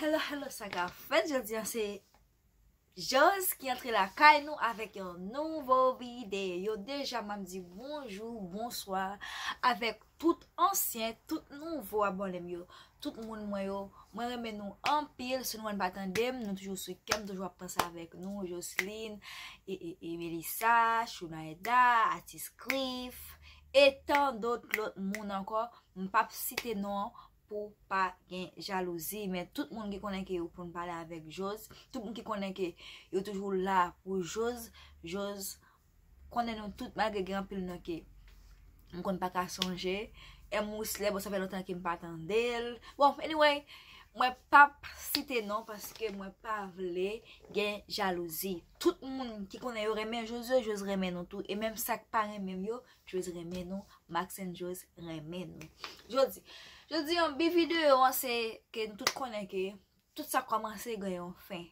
Hello hello sa ka fèt jodi an se Jòs ki antre lakay nou avèk yon nouvo videyo deja map di bonjou bonswa avèk tout ansyen tout nouvo abònem yo tout moun mwen yo mwen renmen nou anpil si nou wè nou pa tandem nou toujou sou kèm toujou ap panse avèk nou Joslin e Melisa Chounaeda Atis Clif etan dot lòt moun ankò m pap site non pou pa gen jalouzi men tout moun ki konnen ke yo konn pale avèk Joz tout moun ki konnen ke yo toujou la pou Joz Joz konnen nou tout malgre gen anpil nan ke m konn pa ka sonje M. Rousselaire bon sa fè lontan ke m pa tande l bon anyway mwen pap site non paske mwen pa vle gen jalouzi tout moun ki konnen yo renmen Joz yo Joz renmen nou tou e menm sa k pa renmen m yo Joyce renmen nou, Max and Joyce renmen nou. Jodi, jodi an bi video an se ke nou tout konnen ke tout sa komanse gen yon fen.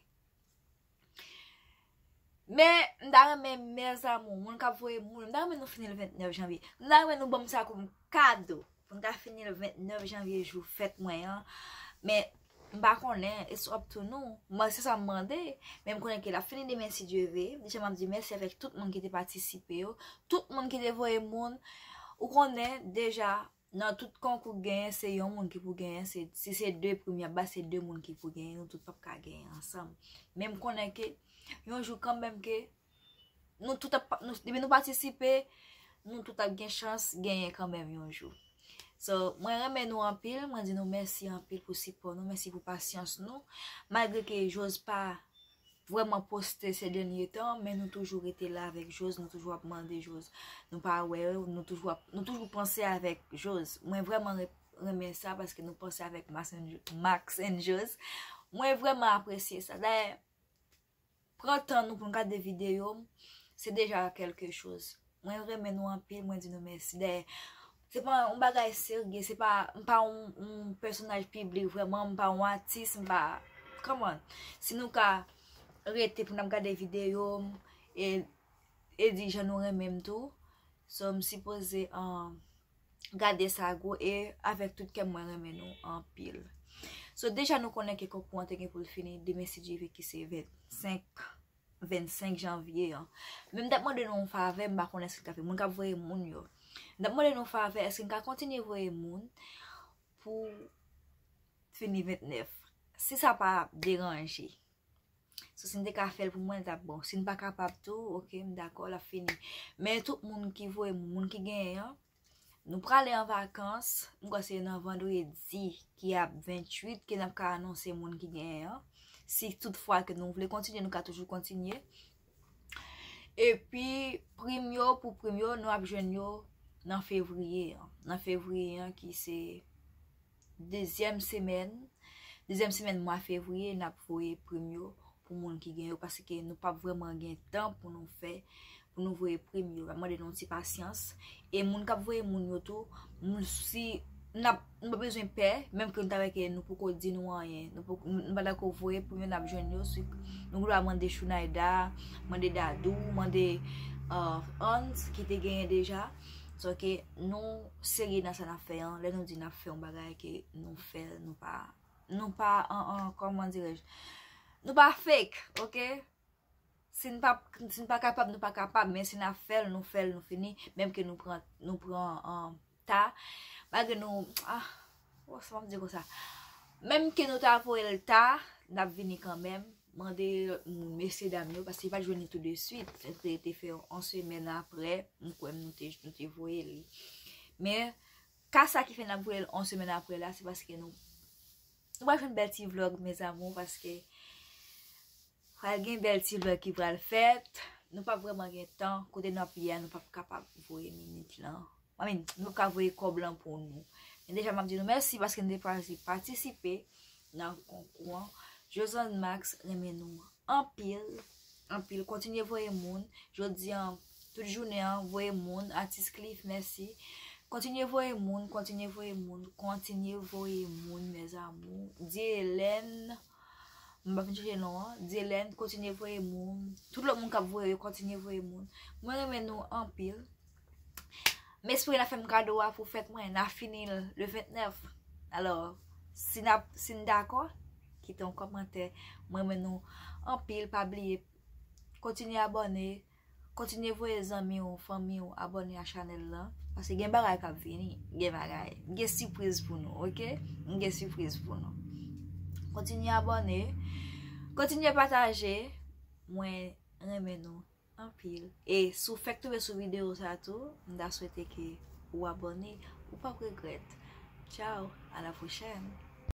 Men, m ta renmen mèzamou, moun kap voye moun, m ta renmen nou fini l 29 janvye. M ta renmen nou banm sa koum kado, pou m ta fini l 29 janvye jou fèt mwen an. Men. M pa konnen, it's up to nou. Mwen se sa m mande, men m konnen ke l ap fini demen si Dye ve. Deja m ap di mèsi avèk tout moun ki te patisipe yo, tout moun ki te voye moun. Ou konnen, deja, nan tout konkou k genyen, se yon moun ki pou genyen, se, si se 2 prim y ap bay, se 2 moun ki pou genyen, nou tout p ap ka genyen ansanm. Men m konnen ke, yon jou kanmenm ke, depi nou patisipe, nou tout ap gen chans genyen kanmenm yon jou. So, mwen renmen nou anpil, mwen di nou mèsi anpil pou sipò nou, mèsi pou pasyans nou. Malgre ke Joz pa vwèman poste se dènye tan, men nou toujou rete la avèk Joz, nou toujou ap mande Joz. Nou pa wè, nou toujou panse avèk Joz. Mwen vwèman renmen sa, paske nou panse avèk Max and Joz. Mwen vwèman apresye sa. Pran tan nou pou nou gade video m se deja kelke choz mwen renmen nou anpil mwen di nou mèsi dèyè se pa yon bagay serye se pa m pa yon pèsonaj piblik vrèman m pa yon atis m pa come on si nou ka rete pou n ap gade video m e di jan nou renmen m tou so m sipoze an gade sa gou e avèk tout kèm mwen renmen nou anpil So deja nou konnen ke konkou an te gen pou l fini demen si Dye vle ki se 25 25 janvye an Men m t ap mande nou yon favè m pa konnen si l ka fè moun k ap voye moun yo M t ap mande nou yon favè èske n ka kontinye voye moun pou fini 29 si sa pa deranje. So si n te ka fèl pou mwen l tap bon. Si n pa kapab tou ok m dakò lap fini. Men tout moun ki voye m moun ki gen an. Nou prale an vakans, m kwè se nan vandredi ki ap 28 ke nap ka anonse moun ki gen an. Si tout fwa ke nou vle kontinye nou ka toujou kontinye. E pi prim yo pou prim yo nou ap jwenn yo nan fevriye an. Nan fevriye an ki se. Dezyèm semèn, dezyèm semèn mwa fevriye n ap voye prim yo pou moun ki gen yo paske nou pap vrèman gen tan pou nou fè, pou nou voye prim yo. M ap mande nou yon ti pasyans. E moun k ap voye moun yo tou, moun si n ap nou pa bezwen pè, menm ke nou ta wè ke nou poko di nou anyen, nou poko nou pa dako voye prim yo n ap jwenn yo si nou gen dwa mande Chounayda, mande Dadou, mande Anz ki te genyen deja. So ke nou serye nan sa nap fè an, lè nou di nap fè yon bagay ke nou fèl, nou pa, nou pa an an, kòman dirèj, nou pa fake, ok? Si n pa, si n pa kapab, nou pa kapab, men si nap fèl, nou fèl, nou fini, menm ke nou pran, nou pran an ta, malgre nou, ah. Bon sa wap di konsa. Menm ke nou ta voye l ta, nap vini kanmenm. Mande lòt moun, mesye dam yo, paske yo pa t jwenn li tou de swit. Yo te rete fè yon semèn aprè, m kwè nou te voye li. Men, ka sa ki fè nap voye l yon semèn aprè la, se paske nou. Nou pral fè yon bèl ti vlog, mezamou, paske. Pral gen bèl ti vlog ki pral fèt. Nou pap vrèman gen tan. Kote nou ap ye a nou pap kapab voye minit lan. I mean, nou pap ka voye kòb lan pou nou. Men deja map di nou mèsi paske nou te chwazi patisipe nan konkou an. Josand Max renmen nou anpil, anpil. Kontinye voye moun. Jodi an, tout jounen an, voye moun. Atis Cliff, mèsi. Kontinye voye moun, kontinye voye moun, kontinye voye moun mes amours. Dyelène. Mwen pa fin chèche non an. Dyelèn, kontinye voye moun. Tout lòt moun k ap voye yo, kontinye voye moun. Mwen renmen nou anpil. M espere n ap fè m kado a pou fèt mwen. N ap fini l le 29. Alò, si n ap, si n dakò, kite yon kòmantè. Mwen renmen nou anpil. Pa bliye, kontinye abòne. Kontinye voye zanmi w, fanmi w abone a chanèl lan Pase gen bagay kap vini Gen bagay, gen sipriz pou nou ok Gen sipriz pou nou Kontinye abone Kontinye pataje Mwen renmen nou anpil E si w fèk tonbe sou video sa tou M ta swete ke ou abone Ou pap regrèt Tchao a la pwochèn